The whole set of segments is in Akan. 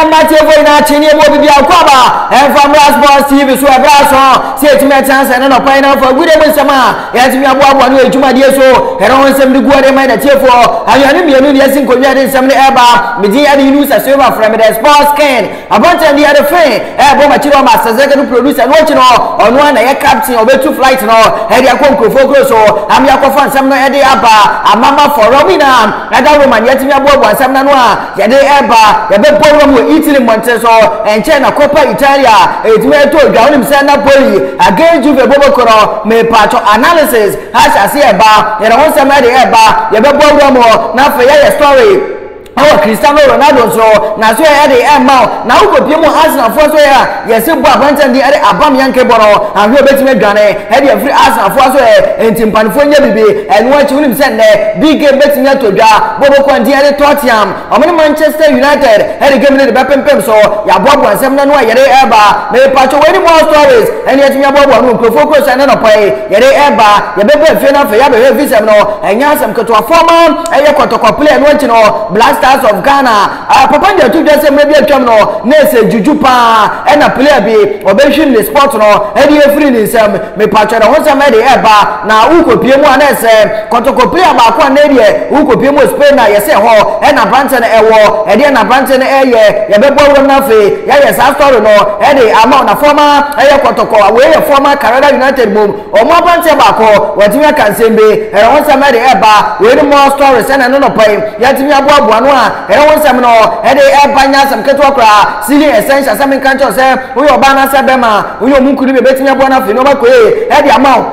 mmateɛfoɔ nyinaa kye ne ɛmu obi biara kɔ aba ɛmfa mmra sports tv so ɛberɛ aso sɛ ɛtumi ɛtena sɛ ne nɔkwan no mfa gude mu nsɛm a yɛatumi aboaboa no adwumadeɛ so ɛno ho nsɛm de guɔ de ma natiefoɔ awia no mmienu deɛ si nkonnwa de nsɛm no ɛba medin ɛde yinu sɛ silver frɛ me dɛ sports ken Aberanteɛ no yɛre fee ɛɛbɔ makyi no ɔma sɛsɛkɛ no producer ɛno akyi no ɔno ara na ɛyɛ captain ɔbɛtu flight no ɛde akɔ nkurofoɔ kuro so ama yɛakɔfa nsɛm no ɛde aba ama mafoɔ Rome nyinaa ɛda Roman yɛatumi aboaboa nsɛm no ano a yɛde ɛɛba yɛbɛbɔ Rome wɔ Italy mmɔntene so ɛnkyɛe na Coppa Italia ɛtumi ɛtɔ dwa wonim sɛ Napoli against Juve boboko no mepaatwɔ analysis ahyɛ aseɛ ɛɛba yɛde ho nsɛm ɛde ɛɛba yɛbɛbɔ Rome na afei yɛayɛ story Ɔwɔ Cristiano Ronaldo nso naso yɛ ɛde ɛmma wo na wo kɔpie mu Arsenal foɔ nso yɛ a yɛse bɔ aberanteɛ no din ɛde abam Yankee bɔ no ahwɛ obɛtumi adwane ɛde afiri Arsenal foɔ so ɛ ɛnti mpanefoɔ nyɛ bibi ɛno akyi wonim sɛ nnɛ big game bɛtumi atɔ dwa bɔ bɛkɔ antin ɛde Tottiam ɔmo ne Manchester United ɛde game no de bɛpempem so yaboaboa nsɛm no ano a yɛde ɛba mepakyɛw wei ne more stories ɛne yɛtumi aboaboa ano nkurɔfoɔ kuro sɛ ɛnɛ nɔpa yi yɛde ɛba yɛbɛba afie no afei yɛabɛhwɛ visɛm no ɛnyɛ asɛm ketewa former Ɛyɛ kɔtɔkɔ play ɛno akyi no Black Stars of Ghana ah, papa nyi ato dwa sɛ mmerɛ bi atwam no na ɛsɛ dwudwu paa ɛna player bi ɔbɛhwim ne sport no ɛde afiri ne nsam mepatwɛ ne ho nsɛm ɛde ɛba na wokɔpie mu a na ɛsɛ kɔtɔkɔ player baako a na ɛdeɛ wokɔpie mu Spain a yɛsɛ hɔ ɛna aberanteɛ no ɛwɔ ɛdeɛ na aberanteɛ no ɛyɛ yɛbɛbɔ awuram no afei yɛyɛ saa story no ɛde ama na former ɛyɛ kɔtɔkɔ wei yɛ former Carada United mu Wɔ mo akwankyerɛ baako hɔ, wɔatumi aka nsɛm bi, ɛno ho nsɛm de ɛreba wei no more stories ɛna ɛno nɔpa yi yɛatumi aboaboa ano a ɛno ho nsɛm no ɛde ɛreba nyɛ asɛm ketewa koraa Sealing Essentials sɛ menka nkyɛw sɛ woyɛ ɔbaa anaasɛ bɛma woyɛ ɔmo nkunu bi ɛbɛtumi aboa no afei nneɛma kɔ yie ɛde ama wo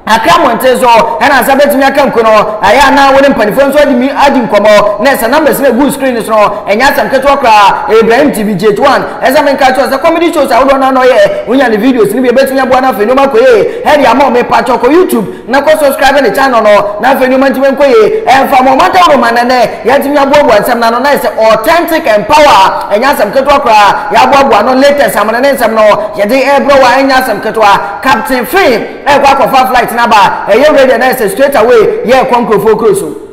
akra mmɔnten so ɛna nsa bɛtumi aka nku no ɛyɛ anaa wo ne mpanimfoɔ nso adi mi adi nkɔmmɔ na ɛsɛ numbers no ɛgu screen no so no ɛnyɛ asɛm ketewa koraa Ibrahim TV J1 Ɛsɛ menka kyerɛ wo sɛ comedy shows ahodoɔ no a na ɔyɛ wonya ne videos no bi ɛbɛtumi aboa no afei nneɛma kɔ yie Heady Among mepakyɛw kɔ YouTube na kɔ subscribe ne channel no na afei nneɛma ntumi nkɔ yie ɛmfa mo ɔmantam no ma nɛnɛ yɛatumi aboaboa nsɛm no ano na ayɛ sɛ authentic and power ɛnyɛ asɛm ketewa koraa yɛaboaboa ano latest amene ne nsɛm no yɛde ɛbrɛ wo a ɛnyɛ asɛm ketewa Captain Fee ɛkɔ akɔfa flight no aba ɛyɛ radio na ayɛ sɛ straight away yɛrekɔ nkurɔfoɔ kuro so.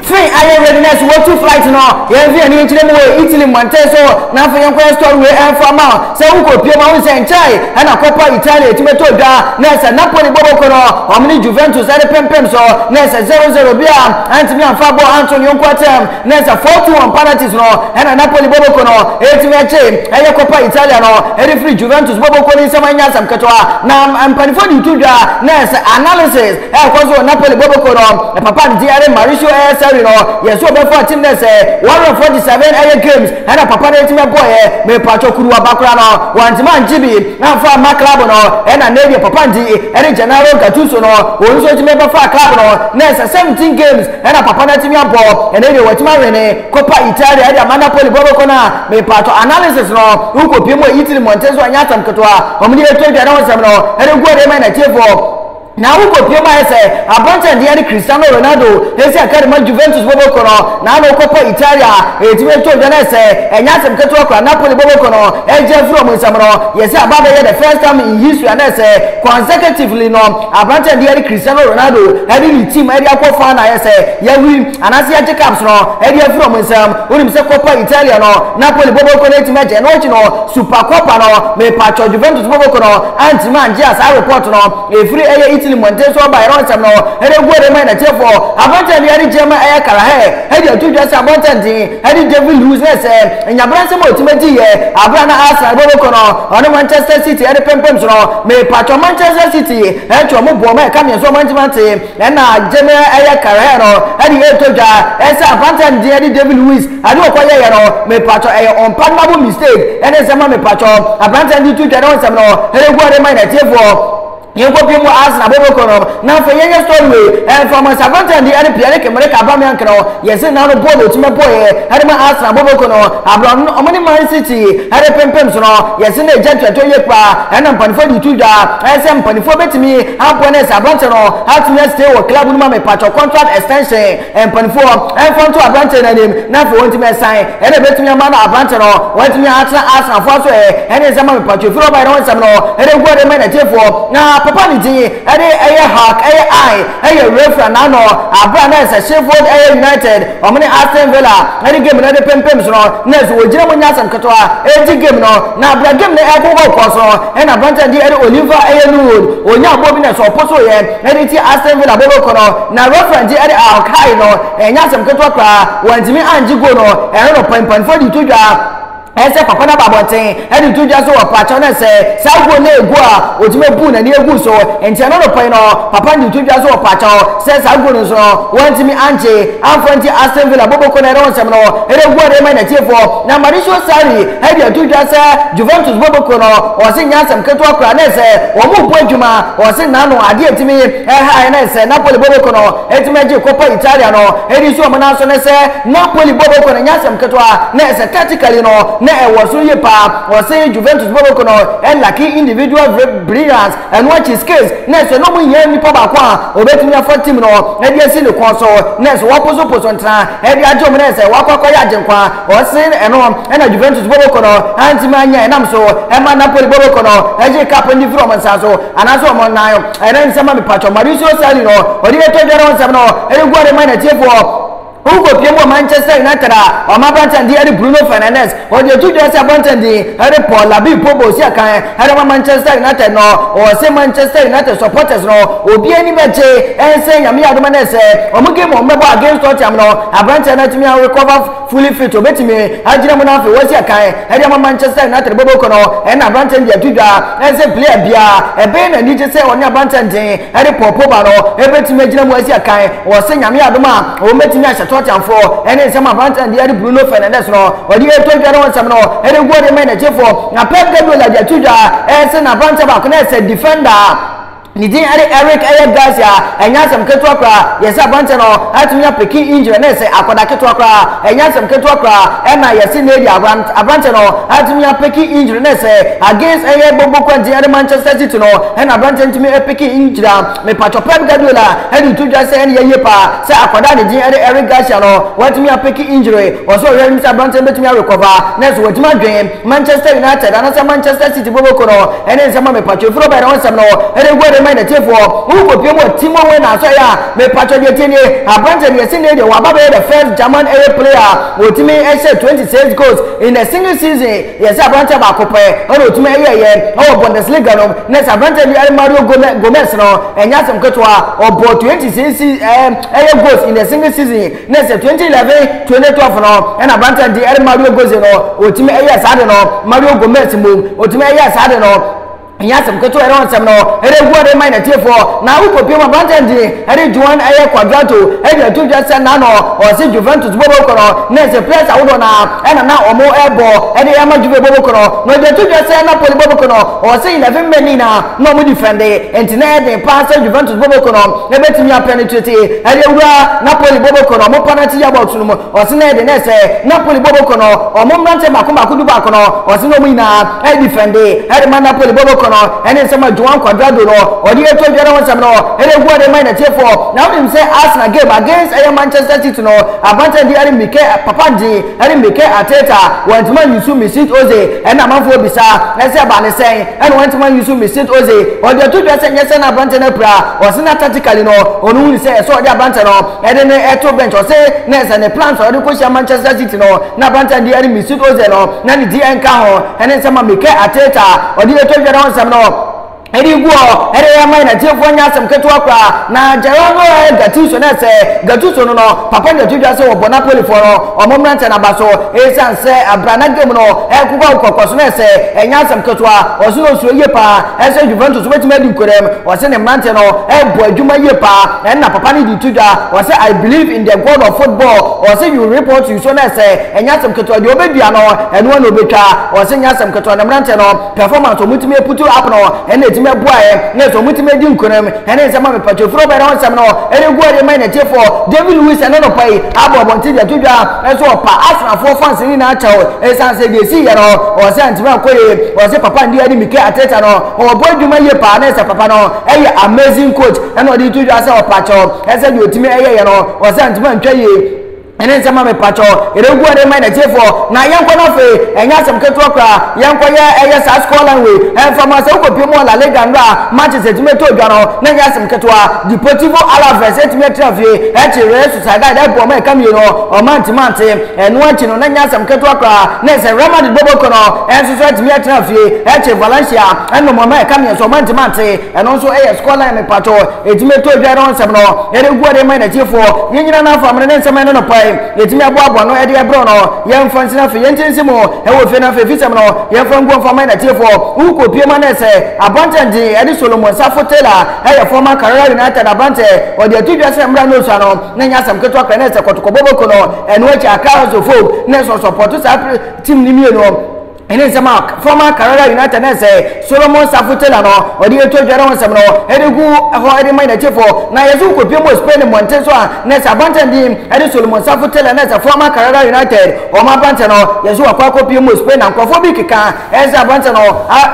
firi ayɛ readiness wɔtu flight no yɛn nso yɛn nkyerɛ mu wɔ italy mmɔnten so na afei yɛn kɔyɛ store wei ɛnfa ma sɛ wokɔ pie ma wosɛ nkyɛe ɛna kɔpa italy ɛtumi tɔ dwa na ɛsɛ napoli bɔbɔkɔ no wɔn ne juventus ɛde pempem so na ɛsɛ 00 bi a antumi amfa bɔ anto ne yɔnko atɛm Na sɛ Fortu wɔn panalties no na Napoli bɔbɔkuo no retumi agye ɛyɛ Coppa Italia no de firi Juventus bɔbɔkuo no nsam ɛnyɛ asɛm ketewa. Na mpaninfoɔ de reto dwa na sɛ analysis ɛrekɔ so wɔ Napoli bɔbɔkuo no papa nti ɛde Mauricio ɛyɛ Sarri no yɛ sɛ ɔbɛfoa team no sɛ wɔawerɛ 47 ɛyɛ games ɛna papa no atumi abɔeɛ. Mepaatwɔ kuruwaba koraa no wantumi angye bi amfa amma club no ɛna nnɛ deɛ papa nti ɛde Gennaro Gattuso no wɔn nso atumi bɛfaa club no na sɛ 17 games Ɛna papa no atumi abɔ ɛnɛ deɛ watumi awene Copa Italia de ama Napoli bɔ bɛkɔ no a mepaatɔ analysis no wokɔ pie mu wɔ Italy mmɔnten so ɛnyɛ asɛm ketewa wɔn de atwa dwa ne ho nsɛm no ɛde gu ɔde ma ɛna tiefoɔ na wokɔ pie mu ayɛ sɛ aberante ɛdeɛ ne Cristiano Ronaldo ɛsi akari ma Juventus bɔ bɛkɔ no na ano Copa Italia ɛtumi atwa dwa no ɛsɛ ɛnyɛ asɛm ketewa kora Napoli bɔ bɛkɔ no ɛgya firi wɔn nsɛm no yɛsɛ aba bɛyɛ the first time in history anɛ sɛ consecutively no Aberanteɛ deɛ de Cristiano Ronaldo de ne team de akɔ fa na ayɛ sɛ yɛawi anaasɛ yɛagye cups no de afiri wɔn nsam. Wonim sɛ Coppa Italia no, Napoli bɔbɔ ko no antumi agye. Ɛno akyi no, Supercoppa no, mepaatwɔ Juventus bɔbɔ ko no antumi angye a saa report no ɛfiri ɛyɛ Italy mmɔnten so baeɛ no nsɛm no ɛregu ɔde rema yɛn atiefoɔ. Aberanteɛ deɛ de German ɛyɛ Carragher de ato dwa sɛ abɔntɛnten Ɛne David Luiz na ɛsɛ. Nyabra nsɛm a otumi dzi yɛ aber a na Arsenal bɔbɔ kɔ no, ɔne Manchester City de pempem so no, merepatrɔ Manchester City twa wɔn boɔ ma ɛka me nso ɔmantse mantse na agye me ɛyɛ carrière no de eto dwa. Ɛsɛ apantsɛ ndzeyɛ ɛne David Luiz adze ɔkɔ yɛɛyɛ no mepatrɔ ɛyɛ unpardonable mistake ɛne nsɛm a mepatrɔ apantsɛ ndze to dwa ne ho nsɛm no ɛregu ɔde ma yɛn atiefoɔ. Yɛnkɔ pii mu Arsenal bɛbɔ kɔ nom na afei yɛnyɛ story wei ɛmfa mo nsa Gunter Ndidi ɛne Pierre Emerick Aubameyang no yɛse na no bɔɔl ɔtumi bɔɔyɛ ɛde ma Arsenal bɔbɔ kɔ no abrɛ ɔno no ɔmo ne Man City ɛde pempem so no yɛse na ɛgya ntuatɔ yie paa ɛna mpanifoɔ de to dwa ɛsɛ mpanifoɔ bɛtumi aboa no ɛsɛ abrante no atumi astay wɔ club no mu amepatwɔ contract extension Mpanimfoɔ mfa nto aberanteɛ no anim na afei wɔntumi nsan ɛna ɛbɛtumi ama no aberanteɛ no wɔatumi atena Arsenalfoɔ aso ɛ ɛne nsɛm ma mepatwo firi ɔbaeɛ no ho nsɛm no ɛde gu ɔde ma natiefoɔ na papa ne din ɛde ɛyɛ Hark ɛyɛ I ɛyɛ Refra Nano aberɛ a na ɛsɛ Sheffield ɛyɛ United wɔn ne Aston Villa ɛde game no ɛde pempem so no na ɛsɛ wɔgyina mu nyɛ asɛm ketewa ɛgye game no na aberɛ game no ɛbobɔ kɔɔ so no ɛna aberanteɛ de ɛde Oliver ɛyɛ Nuwood ɔnya abɔ bi na ɛsɛ ɔpo so yɛ Dɛn nti? Aston Villa bɔbɔ kɔ no, na referee no de a ɔkae no, ɛnyɛ asɛm ketewa koraa. Wantumi angye goal no, ɛno na ɔpanimpanimfoɔ de to dwa. Ɛyɛ sɛ papa no aba abɔnten de to dwa sɛ ɔpa kyɛw na sɛ saa goal no yɛ goal a, ɔtumi abu n'ani agu so. Enti ɛno anɔpa yi no, papa no de to dwa sɛ ɔpa kyɛw sɛ saa goal no nso no, wantumi angye amfa nti Aston Villa bɔbɔ kɔ no, ɛrewɔ nsɛm no, ɛrewɔ de rema n'atiefoɔ. Na Mauricio Sarri Heidi to dwa sɛ Juventus bɔbɔkuo no ɔse nyɛ asɛm ketewa koraa ne sɛ wɔrebɔ adwuma. Ɔse n'ano adeɛ a ɛtumi haeɛ ne sɛ Napoli bɔbɔkuo no ɛtumi ɛgye Coppa Italia no ɛdi nso wɔn nan so ne sɛ Napoli bɔbɔkuo no nyɛ asɛm ketewa ne sɛ tactically no na ɛwɔ soro yie paa. Ɔse Juventus bɔbɔkuo no ɛlacke individual brilliance ɛno akyi skills ne sɛ na wɔn hia nipa baako a ɔbɛtumi afa team no ɛde asi ne kɔn so ne sɛ wɔposo poso ntena ɛde agye wɔn ne sɛ wɔakɔ akɔyɛ Agyenkwa Ɔse ɛno na Juventus bɔbɔkɔ no antimi anyɛ ɛnam so ɛma Napoli bɔbɔkɔ no ɛgye cup no firi wɔn nsa so anaasɛ wɔn nan ɛnan nsɛm ma mepatwɔ Maurizio Sarri no ɔde yɛtɔ dwa no nsɛm no ɛregu ɔde ma n'atiefoɔ Wokɔpiem wɔ Manchester United a wɔn abrante din de Bruno Fernandes wɔde ato dwa sɛ abrante din de Paul Labib Pogba ɔsi akan Ara ma Manchester United no ɔse Manchester United supporters no obi ani bɛgye ɛnsɛ Nyame yɛ adom nɛ sɛ ɔmo game ɔmo bɛbɔ against Tottenham no aberanteɛ no atumi a recover fully fit ɔbɛtumi agyina mu na afei wasi akan ɛde ama Manchester United bɔbɔkuo no ɛna aberanteɛ no de ato dwa sɛ player biara ɛbɛyɛ no anigye sɛ ɔne aberanteɛ no den ne pɔɔpoo ba no, ɛbɛtumi agyina mu asi akan. Ɔwɔ sɛ Nyame yɛ adom a, ɔbɛtumi ahyɛ tɔɔteanfoɔ ne nsɛm a Abrantland deɛ de Bruno Fernandes no, ɔde ɛtɔ dwa no ho nsɛm no de goal de ma n'akyifoɔ. Na Pep Guardiola de ato dwa sɛ n'aberanteɛ baako no sɛ defender a ne din de Eric ɛyɛ Garcia. Ɛnyɛ asɛm ketewa koraa, yɛse aberanteɛ no atumi apeke injury no sɛ akwadaa ketewa koraa. Ɛnyɛ asɛm ketewa koraa ɛna yɛse nnɛ deɛ aberanteɛ no atumi apeke injury no sɛ against ɛyɛ Gbogbo Kwanti ne Manchester City no. Ɛna aberanteɛ no tumi peke iyi gyinaa mepatwɔ Pep Guardiola de reto dwa sɛ ɛne yɛ yie paa sɛ akwadaa a ne din ne Eric Garcia no watumi apeke injury wɔ so ɔhwɛ anim sɛ aberanteɛ no bɛtumi arekɔva na nso watumi adwen Manchester United anasɛ Manchester City bɔbɔ ko no ɛne nsɛm a mepatwɔ ɛfiri ɔbɛn na ɔnsɛm no ɛde gu ɛde ma natiefoɔ wokɔpie mu wɔ Timo Werner so ɛyɛ a mepatwɔ deɛ tie nie aberanteɛ deɛ sɛ nɛ deɛ waba bɛyɛ the first German ɛyɛ player wɔtumi ɛhyɛ 26 goals in a single season Yɛsɛ aberanteɛ baako pɛ na ɔtumi ɛyɛ ɛyɛ wɔ Bundesliga nom na sɛ aberanteɛ bi ɛne Mario Gomez no ɛnyɛ asɛm ketewa ɔbɔɔ 20 sisi ɛɛ ɛyɛ goals in a single season na sɛ 2011 2012 no ɛna aberanteɛ de ɛne Mario Goze no ɔtumi ɛyɛ saa de no Mario Gomez mmom ɔtumi ɛyɛ saa de no ɛnyɛ asɛm ketewa ɛrɛ nsɛm no ɛrɛ gu ɔde man natiefoɔ na awokɔ pii mu aberanteɛ nti ɛredi wɔn ɛyɛ kwadwato ɛde ato dwa sɛ na no ɔse Juventus bobo kɔnɔ na ɛsɛ players ahodoɔ na ɛna na ɔmo ɛbɔ ɛde ɛma Juve bobo kɔnɔ na ɔde ato dwa sɛ Napoli bobo kɔnɔ ɔse 11 men ni na na ɔmo defende nti na ɛden paa sɛ Juventus bobo kɔnɔ ɛbɛtumi apɛnetrate ɛde awura Napoli bobo kɔnɔ ɔmo penalty yɛ box no mu Ɔse na ɛde na ɛsɛ Napoli bɔ bɔkɔ no ɔmo mmranteɛ baako baako du baako no ɔse na ɔmo nyinaa ɛdifɛnde ɛdema Napoli bɔ bɔkɔ no ɛne nsɛm a Joan Cuadrado no ɔde ɛɛto dwa ne ho nsɛm no ɛde gu ɔde ma yɛn atiefoɔ na wonim sɛ Arsenal game against ɛyɛ Manchester City no abanterɛ de ɛne Mike Papandze ɛne Mike Arteta wɔantumi anyi so Mesut Ozil ɛna amanfoɔ bisa ɛsɛ ɛbaa ne sɛn ɛna wɔantumi anyi so Mesut Ozil ɔde ato dwa sɛ nyɛ sɛ na aberanteɛ no apira ɔse na tactically no ɔno hunu sɛ ɛsɛ ɔde aberanteɛ no Ɛde no to bench. Ɔse na ɛsɛ ne plans a ɔde kɔhyia Manchester City no na aberanteɛ no de ɛne Mesut Ozil no na ne di ɛnka ho ɛne nsɛm a Mikel Arteta a ɔde yɛtɔ dwa no ho nsɛm no ɛde gu hɔ ɛde ɛma yɛn atiefoɔ nyɛ asɛm ketewa koraa na Gerardo Gattuso na ɛsɛ Gattuso no no papa no yɛto dwa sɛ wɔbɔ Napolifoɔ no ɔmo mmerantɛ no aba so ɛsiane sɛ abrana game no ɛkokɔ nkɔkɔ so na ɛsɛ ɛnyɛ asɛm ketewa ɔse na ɔsuro yie paa ɛsɛ Juventus wobɛtumi adi nkorɛm ɔse ne mmerantɛ no ɛbɔ adwuma yie paa Ɛna papa no de to dwa, ɔse I believe in the God of football, ɔse you reap what you sow na ɛsɛ, ɛnyɛ asɛm ketewa, deɛ ɔbɛdua no, ɛno na ɔbɛtwa, ɔse nyɛ asɛm ketewa, na mmeranteɛ no performance a wɔtumi putu up no na ɛtumi ɛboaɛ, na ɛsɛ wɔtumi ɛdi nkunim, ɛne nsɛm a mepatwa ɛfiri ɔbaa no hɔ nsɛm no ɛregu ɔde rema yɛn atiefoɔ, David Luiz ɛna anɔpa yi abɔ abɔnten de ato dwa sɛ ɔpa Arsenalfoɔ fans no nyinaa kyɛw ɛsiane sɛ deɛ ɛsiiɛ no ɔse antumi ankɔ yie, ɔse papa no deɛ ɛne Mikel Arteta no. Ɔbɔ adwuma yie paa na sɛ papa no yɛ amazing coach ɛna ɔde to dwa sɛ ɔpakyɛw ɛsɛ deɛ ɔtumi ɛyɛ yɛ no ɔsɛ ntoma ntwa yie ɛne nsɛm a mepakyɛw ɛregu ɔde ma n'atiefoɔ na yɛnkɔ no afei ɛnyɛ asɛm ketewa koraa yɛnkɔ yɛ ɛyɛ saa score line wei ɛmfa ma sɛ wokɔpie mu wɔ La Liga nnora a matches atumi ɛtɔ dwa no na ɛnyɛ asɛm ketewa Deportivo Alaves atumi atena fie ɛkye Real Sociedad ɛboɔ ma ɛka mmienu ɔma ntimante Ɛno akyi no, na ɛnyɛ asɛm ketewa koraa ne sɛ Real Madrid bɔbɔkɔ no nso so atumi atena fie kyɛ Valencia no mmom a ɛka me nso mantumi ante. Ɛno nso yɛ scoreline mepatwo. Ɛtumi ɛtɔ dwa no nsɛm no ɛde gu ɔde ma yɛn atiefoɔ. Yɛn nyinaa no afa amena ne nsɛm a ɛne no pae yɛtumi aboa aboa ano ɛde ɛbrɛ no. Yɛmfa nsina afei yɛnte nsi mu wɔ fie no afei fisɛm no yɛmfa nguo mfa ma yɛn atiefoɔ. Wokɔ pie mu a na ɛsɛ abrantɛ din ɛde Solomon Safo Taylor ɛyɛ former Carrera United abrantɛ. Ɔde ato dwa sɛ mmra no sua no. na nyɛ asɛm ketewa koraa na ɛsɛ kɔtɔkɔ bɔbɔko no ɛno akyi akra nsofo na ɛsɔ sɔpɔto saa tim no mmienu ɛne nsɛm a fɔma karara united na ɛsɛ solomon safo taylor no ɔde yɛtɔ dwa ne ho nsɛm no ɛde gu hɔ ɛde ma n'akyifo na yɛso nkɔpie mu spain mmɔnten so a na ɛsɛ abɔnten din ɛde solomon safo taylor na ɛsɛ fɔma karara united ɔma abɔnten no yɛso wakɔ akɔpie mu spain na nkurɔfoɔ bi keka Ɛyɛ sɛ aberanteɛ no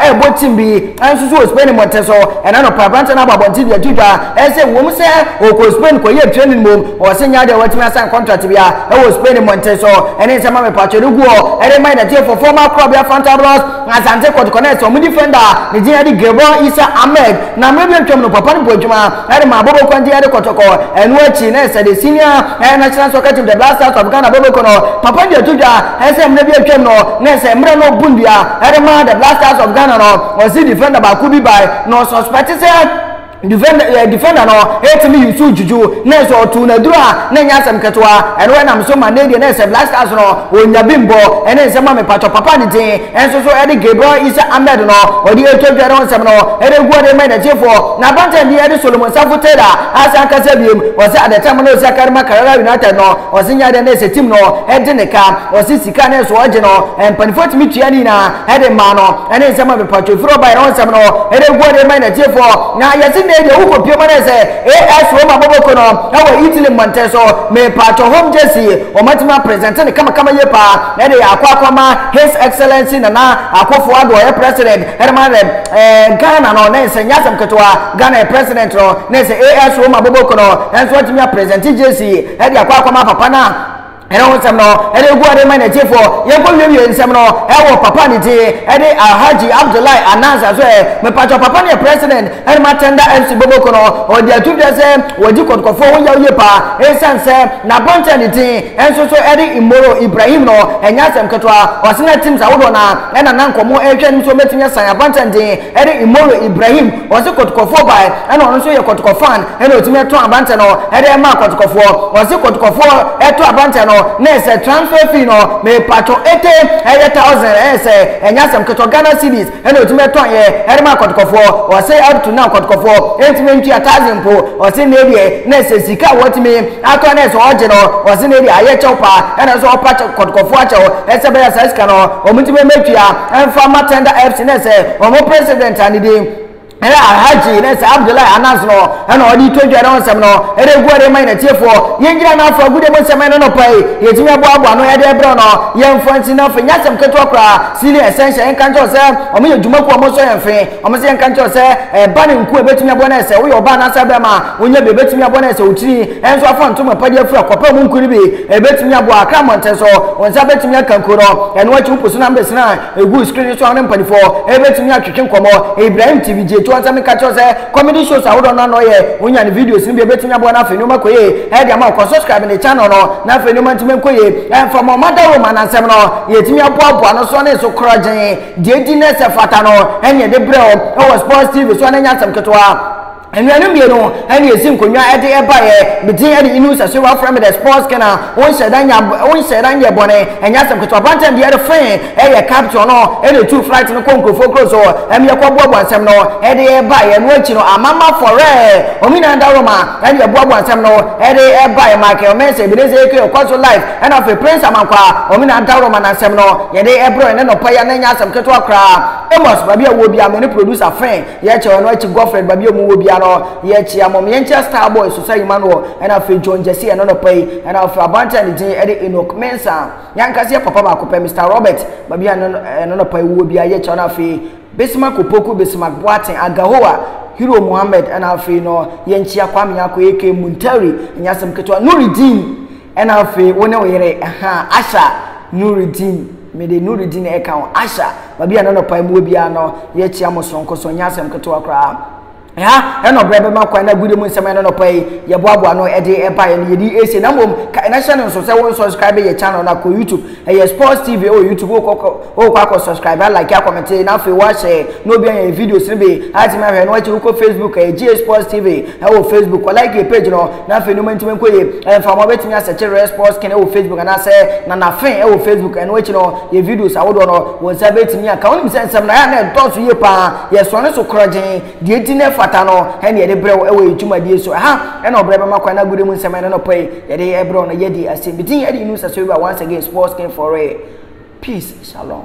rebɔ tim bi nso so wɔ Spain mmɔnten so. Ɛnnɛ anɔpa, aberanteɛ no abɔ abɔnten de ato dwa sɛ ɛwom sɛ ɔkɔɔ Spain kɔyɛɛ training mmom, ɔwɔ sɛ nya adeɛ a watumi asan kɔntrate biara wɔ Spain mmɔnten so. Ɛne nsɛmma mepatwɛ no gu hɔ de rema yɛn atiefoɔ. Former akorabea Fuentealblas Asante Kɔtɔkɔ nɛɛse a wɔde fɛnda ne din adi Gilbert Issa Ahmed na mmerɛ bi atwam no papa no bɔɔ adwuma Ɛna maa Bobo Kwantia de kɔtɔkɔ. Ɛno akyi na ɛsɛ de Senior National Soccer Team The Black Stars of Ghana Boboko no papa de ato dwa sɛ mmerɛ bi atwam no na ɛsɛ mmerɛ no ɔbu nnua de ma The Black Stars of Ghana no ɔse defender baako bi bae na ɔsuspect sɛ defender defender no ɛtumi yusu juju nanso ɔtoo no aduru a na ɛnyɛ asɛm ketewa ɛno ɛnam so ma ne deɛ na ɛsɛ Black Stars no ɔnya bi mbɔ ɛne nsɛm a mepatɔ papa ne din ɛnso so ɛde Gabriel Isa Ahmed no ɔde ɛtɔ dwa ne ho nsɛm no ɛde gu ɔde ma ɛnɛtiefoɔ N'apantan bi de Solomon nsa fotoe a ase ankasa wiem. Ɔse ade tam na ɔsi akari ma Karara United no. Ɔse nyɛ ade na ɛsɛ team no gye ne ka. Ɔse sika na ɛsɛ ɔgye no. Mpaninfoɔ tumi tua ne nyinaa de maa no. Ɛne nsɛm a mepatwɔ firi ɔbaeɛ na ɔnsɛm no de gu ɔde ma yɛn atiefoɔ. Na yɛse nnɛyi deɛ wokɔ pie ma no ayɛ sɛ AS Roma bɔbɔko no wɔ Italy mmɔnten so. Mepatwɔ home jersey wɔn atumi a presente no kamakama yie paa de akɔ akɔma His Excellency Nana Akuffo Addo ɔyɛ President Herman Rem, eh, Ghana no, ne sɛ nyɛ asɛm ketewa, Ghana yɛ president no, ne sɛ AS wɔ ma boboko no, ɛnso atumi a president JC, ɛde akɔ akɔma papa na ɛne ho nsɛm no ɛde gu ade ma n'akyifoɔ yɛnkɔ wiewie nsɛm no ɛwɔ papa ne ti ɛde alhaji abdullahi anansi aso ɛ mepatwa papa ne yɛ president ɛne ma tɛnda mc boboko no ɔde ato dwa sɛ wɔdi kɔtɔkɔfoɔ ho yaw yie paa ɛsiane sɛ n'abɔnten ne ti Nso so ɛde mmoroo Ibrahim no ɛnyɛ asɛm ketewa. Ɔse na teams ahodoɔ no ara ɛna na nka ɔmo ɛrehwɛ anim sɛ ɔbɛtumi asan Avancan din ɛde mmoroo Ibrahim. Ɔse Kɔtɔkɔfoɔ bae ɛna ɔno nso yɛ Kɔtɔkɔ fan ɛna ɔtumi ɛtɔn Avancan no ɛde ɛmaa Kɔtɔkɔfoɔ. Ɔse Kɔtɔkɔfoɔ ɛtɔ Avancan no na ɛsɛ transfer fee no mepaatwɔ ete ɛyɛ thousand ɛyɛ sɛ ɛnyɛ asɛm ketewa Ghana cedis Ɛna otumi ɛtɔn yɛ ɛdema akɔtɔkɔfoɔ ɔse up to now kɔtɔkɔfoɔ ɛntumi ɛntua tax mpo ɔse na ɛdeɛ na ɛsɛ sika a wɔtumi atɔ na ɛsɛ ɔgye no ɔse na ɛdeɛ ayɛ kyɛw paa ɛna ɛsɛ ɔpa kyɛ kɔtɔkɔfoɔ akyɛw ɛsɛ bɛyɛ saa sika no wɔn ntumi ɛmɛtua ɛnfa ma tender apps na ɛsɛ wɔn president a ne din Ber a Hajji ne Sir Abdullahi Anas no na wɔdze rotwa dwa no ho nsɛm no dɛ egu ɔdze rema hɛn atsiefo. Yengyina no afora Agudo mu nsɛm no no paa yi, yedzi mu boaboa ano dɛ ber no yɛmmfa nnsi na afei nnyɛ asɛm ketewa koraa, Sealing Essential yɛnka nkyerɛ wo sɛ wɔyɛ dwuma kuw a wɔsɔ hɛn fee, wɔn nso yɛnka nkyerɛ wo sɛ ba no nku a ebetumi aboa no yɛ sɛ woyɛ ɔbaa anaasɛ aberɛmba a wonnya bi a ebetumi aboa no yɛ sɛ wo tsir nso afa nto mu apɛgye afura kɔpɛ mu nku no bi ebetumi aboa akra mbɔntsen so wo nsa betumi aka nku no ɛno akyi wo po so na mbesena Egu screen no so a wo ne mpanyimfo betumi atwetwe nkɔmmɔ. Ibrahim TV gye toɔ sɛ meka kyerɛ wo sɛ comedy shows ahodoɔ no a na ɔyɛ, wonya ne videos no bi a ebetumi aboa na afei nneɛma kɔ yie de ama wo. Kɔ subscribe ne channel no na afei nneɛma ntumi nkɔ yie. Ɛmfa ma ɔma dawuro ma n'asɛm no yɛtumi aboaboa no so ne so korɔgyenn. Deɛ edi na ɛsɛ fata no na yɛde brɛ wo wɔ Sports TV so ɛno nyɛ asɛm ketewa. Anuanom mmienu na yɛsi nkonnwa de baeɛ. Me din de Inus Asieru Wɔfrɛ me The Sports King a wonhyɛ da nya wonhyɛ da nyɛ bɔne Ɛnyɛ asɛm ketewa Aba ntɛm deɛ ɛde fee Ɛyɛ captain no na ɛtuu flight no kɔɔ nkurɔfoɔ kuro so Ɛma yɛkɔboaboa nsɛm no de baeɛ Ɛno akyi no Amama Fɔrɛ wɔn nyinaa Dawuroma na yɛboaboa nsɛm no de baeɛ Michael Mensah Ebenezer Ekei Ɔkɔ so live ɛna afei Prince Amankwa wɔn nyinaa Dawuroma na nsɛm no yɛde brɛɛ wo nnɛ nɔpa yi a na ɛnyɛ asɛm ketewa koraa Amos Baabi a wowɔ biara me ne producer Fee Yɛkyɛ ɔno akyi Godfred ba bi a ɔmo wɔ bia no yɛkyea mom yɛnkyɛ star boy Susa Emmanuel ɛna afei John Gyasi ɛno nɔpa yi ɛna afei abante a ne din ɛde Enoch Mensah yankasa yɛ papa baako pɛ Mister Robert ba bi a ɛno ɛno nɔpa yi wɔ bia yɛkyɛ ɔno afei Bismarck Opoku Bismarck Boateng Agahoa Hero Mohammed ɛna afei no yɛnkyea Kwame Nyarko aka Muntari ɛnyɛ asɛm ketewa Nurideen ɛna afei wo ne wo yere ɛha asha nuridin mede nuridin ɛka ho asha baabi a na nɔpa mu biara no yɛkyia mo sonko so nyɛ asɛm ketewa koraa ɛha ɛna ɔbrɛ bɛma kwan na agude mu nsɛm ɛna nɔpa yi yɛboaboa no ɛde ɛbaeɛ no yɛde ɛsie na mmom ka ɛna hyɛ no nso sɛ wo nsubscribe yɛ channel no akɔ youtube Ɛyɛ sports TV ɛwɔ YouTube wo kɔ wo kɔ akɔ subscribe a like a comment na afei wo ahyɛ na obi anya videos no bi atimi ahwɛ no akyi wo kɔ Facebook ɛyɛ GA Sports TV ɛwɔ Facebook kɔ like yɛ page no na afei nneɛma ntimi nkɔ yie ɛmfa mo abɛtumi asɛkye Rare Sports Skin ɛwɔ Facebook anaasɛ Nana Fen ɛwɔ Facebook ɛno akyi no yɛ videos ahodoɔ no wɔn nsa bɛtumi aka wonim sɛ nsɛm na yɛ a na ɛdɔɔso yie paa yɛsɔne so korɔgyen Deɛ enti na ɛfata no ɛne yɛde brɛ wo ɛwɔ yɛ dwumadie so ɛha ɛna ɔbrɛ bɛma kwan na agude mu nsɛm ɛne nɔpɛ yi yɛde ɛbrɛ wo no yɛdi ase medin ɛde Yunus Asewura once again sports king for real peace shalom.